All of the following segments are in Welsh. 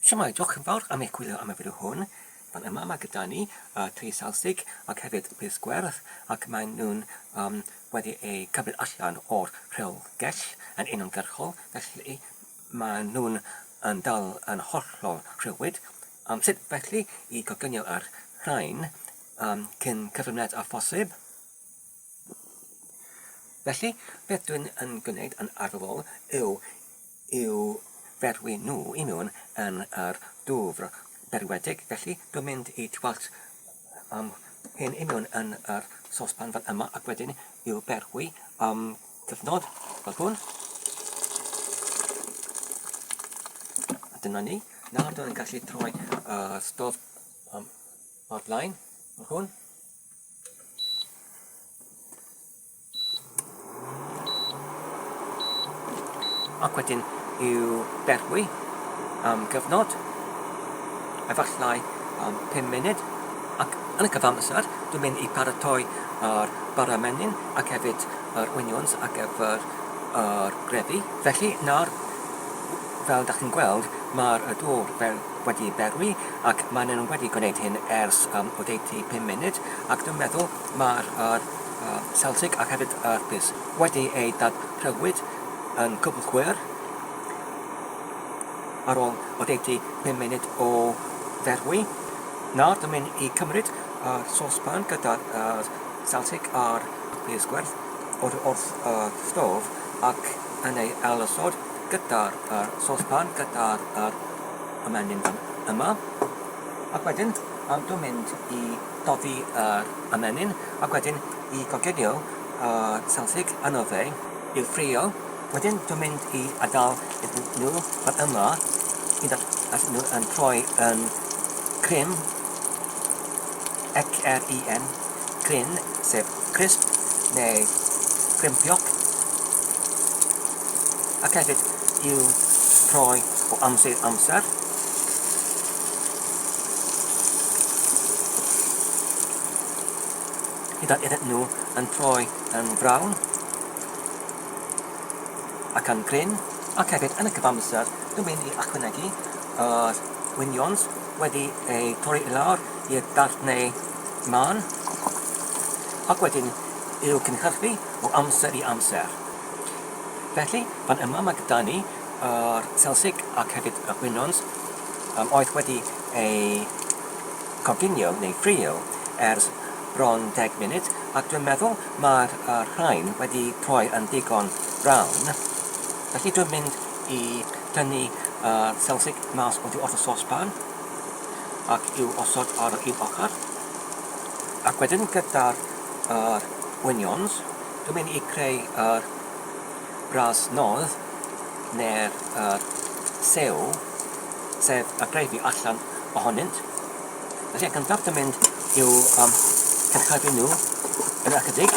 Shwmae, diolch yn fawr am eich gwylio am y fideo hwn. Fan yma mae gyda ni uh, tri salsig ac hefyd pys gwerth ac maen nhw'n um, wedi eu cymryd allan o'r rhewgell yn uniongyrchol felly maen nhw'n yn dal yn hollol rhywyd. Um, sut felly i goginio ar rhain um, cyn cyflwyniad a phosib? Felly, beth dwi'n yn gwneud yn arferol yw i'w ferwi nhw i mewn yn yr dwfr berwedig, felly dwi'n mynd i twallt um, hyn i mewn yn yr sospan fel yma ac wedyn i'w berwi am cyfnod fel hwn. A dyna ni. Nawr dwi'n gallu troi uh, stof um, o'r blaen fel hwn. Ac wedyn i'w berwi am gyfnod, efallai am 5 munud, ac yn y cyfamser dwi'n mynd i paratoi yr bara menyn ac hefyd yr onions ar gyfer yr grefi. Felly nawr, fel dach chi'n gweld, mae'r dwr fel wedi berwi ac maen nhw wedi gwneud hyn ers um, oddeutu pum munud ac dwi'n meddwl mae'r yr um, Celtic ac hefyd yr Bus wedi eu dadprywyd yn cwbl chwer ar ôl oddeutu pum munud o ferwi. Nawr dwi'n mynd i cymryd uh, sospan gyda uh, Celtic a'r Bus gwerth o'r wrth uh, stof ac yn ei ailosod gyda'r uh, sospan gyda'r uh, y menyn fan yma ac wedyn am dw mynd i doddi yr ymenyn ac wedyn i goginio y selfig yno fe i'w ffrio wedyn dw mynd i adael iddyn nhw fan yma hyd at at nhw yn troi yn crim X-R-I-M Crin, sef crisp neu grimpioc, ac hefyd i'w troi o amser i amser. Hyd at iddyn nhw yn troi yn frawn ac yn grin, ac hefyd yn y cyfamser dwi'n mynd i achwynegu yr wynions wedi eu torri i lawr i'r darnau Mân, ac wedyn i'w cynhyrchu o amser i amser. Felly, fan yma mae gyda ni yr selsig ac hefyd y gwinons um, oedd wedi ei coginio neu ffrio ers bron deg munud ac dwi'n meddwl mae'r er rhain wedi troi yn ddigon brown. Felly dwi'n mynd i tynnu uh, selsig mas oddi wrth y sospan. ac i'w osod ar yr un ochr ac wedyn gyda'r yr onions dwi'n mynd i creu yr bras nodd neu'r yr sew sef y gravy allan ohonynt felly yn gyntaf dwi'n mynd i'w um, cynhyrfu nhw yn ychydig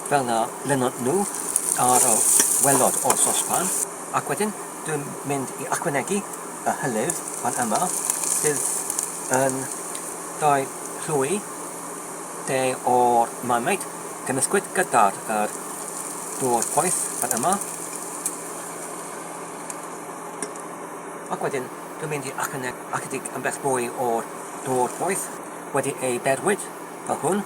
fel na lynod nhw ar y welod o'r sospan ac wedyn Dwi'n mynd i ychwanegu y hylif fan yma sydd yn rhoi llwy de o'r marmite gymysgwyd gyda'r yr dŵr poeth fan yma. Ac wedyn dwi'n mynd i ychydig yn beth mwy o'r dŵr poeth wedi ei berwyd fel hwn.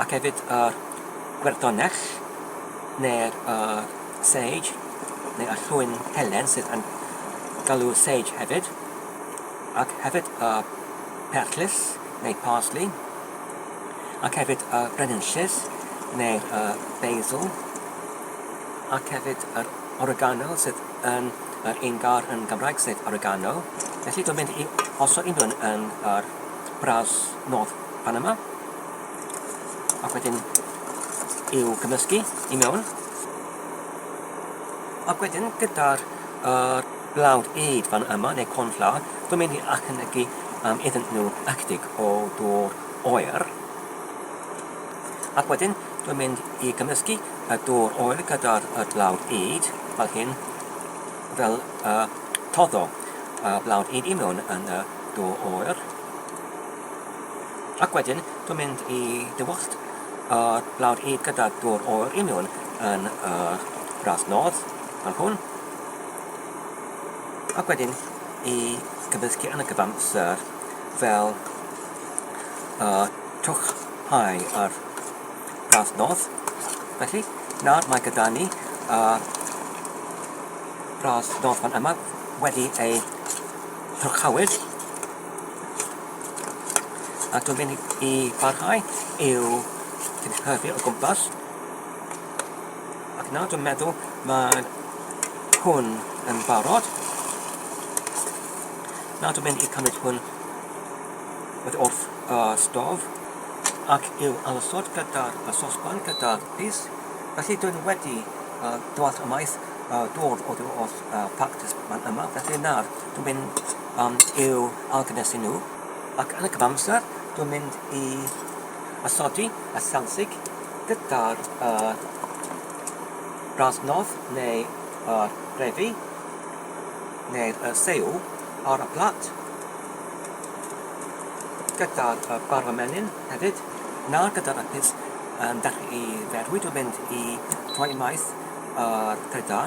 Ac hefyd yr gwerdonell neu'r yr sage neu y llwyn helen sydd yn galw sage hefyd ac hefyd y perllys neu parsley ac hefyd y brenhinllys neu'r y basil ac hefyd yr oregano sydd yn yr un gair yn Gymraeg sef oregano. Felly dwi'n mynd i osod un nhw'n yn yr bras North Panama. Ac wedyn i'w gymysgu i mewn. Ac wedyn gyda'r uh, blawd eid fan yma, neu cornflower, dwi'n mynd i achynegu um, iddyn nhw ychydig o dŵr oer. Ac wedyn dwi'n mynd i gymysgu y dŵr oer gyda'r blawd eid fel hyn, fel uh, toddo uh, blawd eid i mewn yn y dŵr oer. Ac wedyn dwi'n mynd i dywallt o lawr hyd gyda dŵr oer i mewn yn y gradd nodd fel hwn. Ac wedyn i gyfysgu yn y cyfamser fel y twch hau ar gradd nodd. Felly, nawr mae gyda ni y gradd nodd fan yma wedi ei twch hawyd. A dwi'n mynd i barhau i'w cynhyrfu o gwmpas. Ac nawr dwi'n meddwl mae hwn yn barod. Nawr dwi'n mynd i cymryd hwn wedi wrth y stof ac i'w alysod gyda'r sosban gyda'r pys. Felly dwi'n wedi uh, dwallt ymaith uh, dod oddi wrth uh, pactus man yma, felly nawr Dwi'n mynd um, i'w argnesu nhw. Ac yn y cyfamser, dwi'n mynd i osodi y selsig gyda'r uh, brasnodd neu y refi neu'r uh, seiw ar y plat gyda'r uh, barfa menyn hefyd na gyda'r apus yn dechrau i ferwi dwi'n mynd i rhoi maith ar uh,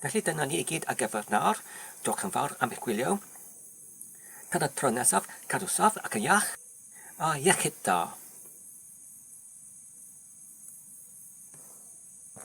Felly dyna ni i gyd ar gyfer nawr, diolch yn fawr am eich gwylio. Tan y tro nesaf, cadw saff ac yn iach, a iechyd da!